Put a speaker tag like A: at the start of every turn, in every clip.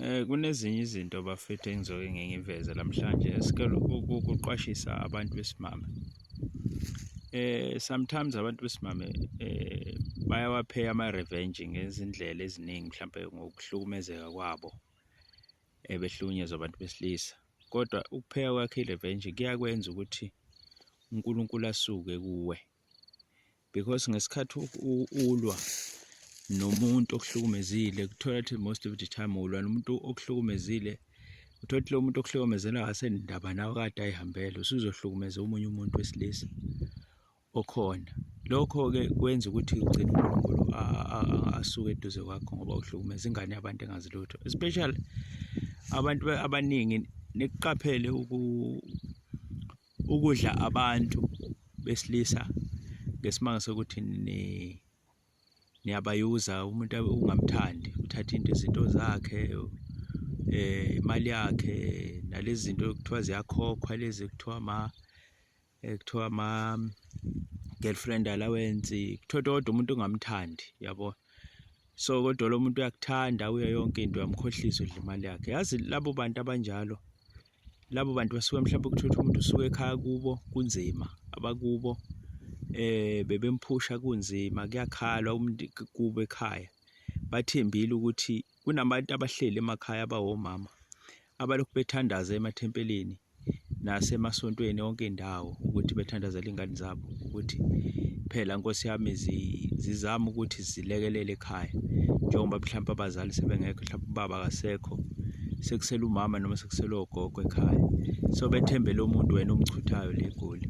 A: Eh, kunezinye izinto bafethu engizoke ngingiveze namhlanje esikele ukuqwashisa abantu besimame eh sometimes abantu besimame eh bayawapheya ama revenge ngezindlela eziningi mhlawumbe ngokuhlukumezeka kwabo ebehlukunyezwa eh, abantu besilisa kodwa ukupheya kwakhe irevenge kuyakwenza ukuthi uNkulunkulu asuke kuwe because ngesikhathi ulwa nomuntu okuhlukumezile kuthola ukuthi most of the time ulwa nomuntu okuhlukumezile uthola ukuthi lo muntu okuhlukumezela akasenindaba nawe kade ayihambele usuzohlukumeza omunye umuntu wesilisa okhona lokho-ke kwenza ukuthi ugcine unkulunkulu asuke eduze kwakho ngoba uhlukumeza ingane yabantu engazi lutho especially abantu abaningi nikuqaphele ukudla abantu besilisa ngesimanga sokuthi ni niyabayuza umuntu ungamthandi uthatha into izinto zakhe eh imali yakhe nalezi zinto kuthiwa ziyakhokhwa lezi kuthiwa ma eh, kuthiwa ma girlfriend allowance kuthiwa kodwa umuntu ungamthandi yabo so kodwa lo muntu uyakuthanda uye yonke into uyamkhohlisa udla imali yakhe yazi labo bantu abanjalo labo bantu basuke mhlawumbe kuthiwa ukuthi umuntu usuke ekhaya kubo kunzima abakubo eh bebemphusha kunzima kuyakhalwa umuntu kubo ekhaya bathembile ukuthi kunabantu abahleli emakhaya abawomama abalokhu bethandaza emathempelini nasemasontweni yonke indawo ukuthi bethandazela ingane zabo ukuthi phela nkosi yami zizama ukuthi zilekelele ekhaya njengoba mhlawumbe abazali sebengekho mhlawumbe ubaba akasekho sekusele umama noma sekusele ogogo ekhaya so bethembele umuntu wena omchuthayo le goli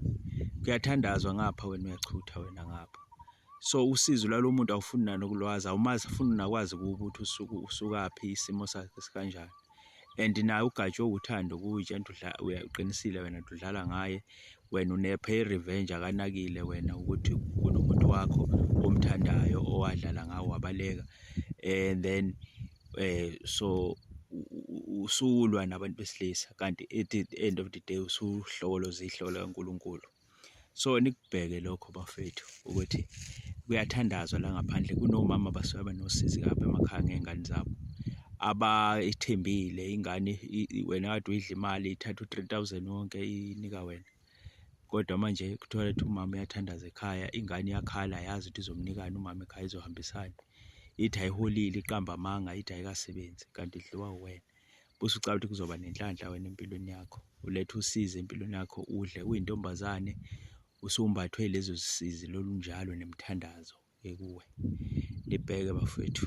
A: kuyathandazwa ngapha wena uyachutha wena ngapha so usizo lwalo muntu awufuni nanokulwazi awumazi funi nakwazi ukuthi usuku usukaphi isimo sakhe sikanjani and naye ugatshwe uthando kuwutshanto uqinisile wena udlala ngaye Wena unepha i-revenge akanakile wena ukuthi kunomuntu wakho omthandayo owadlala ngawo wabaleka and then eh so usulwa nabantu besilisa kanti at the end of the day usuhlokoloza ihloko likaNkulunkulu so nikubheke lokho bafethu. ukuthi kuyathandazwa la ngaphandle kunomama basuke benosizi kabi emakhaya ngey'ngane zabo abayithembile ingane wena kade uyidla imali ithatha u-three thousand wonke inika wena kodwa manje kuthola ukuthi umama uyathandaza ekhaya ingane iyakhala yazi ukuthi izomnikani umama ekhaya izohambisana ithi ayiholile iqamba amanga ithi ayikasebenzi kanti idliwa uwena bese ucabanga ukuthi kuzoba nenhlanhla wena empilweni yakho ulethe usizi empilweni yakho udle uyintombazane usumbathwe lezo zisizi lolunjalo nemthandazo ekuwe libheke bafethu